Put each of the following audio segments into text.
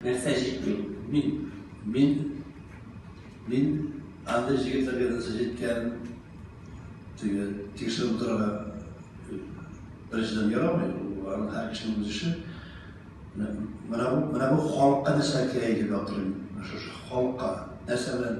Нәрсә җитми? Мин, мин, мин андый җегетләргә нәрсә җиткән теге тикшереп утырырга беренчедән ярамый, ул аның һәр кешенең үз эше. Менә бу, менә бу халыкка нәрсә кирәк итеп ятырмын, шушы халыкка нәрсә белән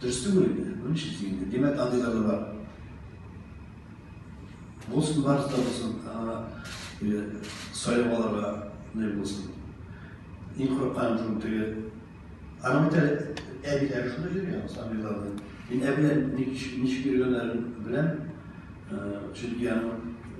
Дөрес түгел инде. Ну нишлисең инде. Димәк, андыйлар да бар. Булсын, барысы да булсын. Аңа сайлап алырга не булсын. Иң курыкканым шул теге. Аны бит әле әбиләре шунда йөргән, сабыйларны. Мин әбиләр ничек йөргәннәрен беләм. Чөнки аның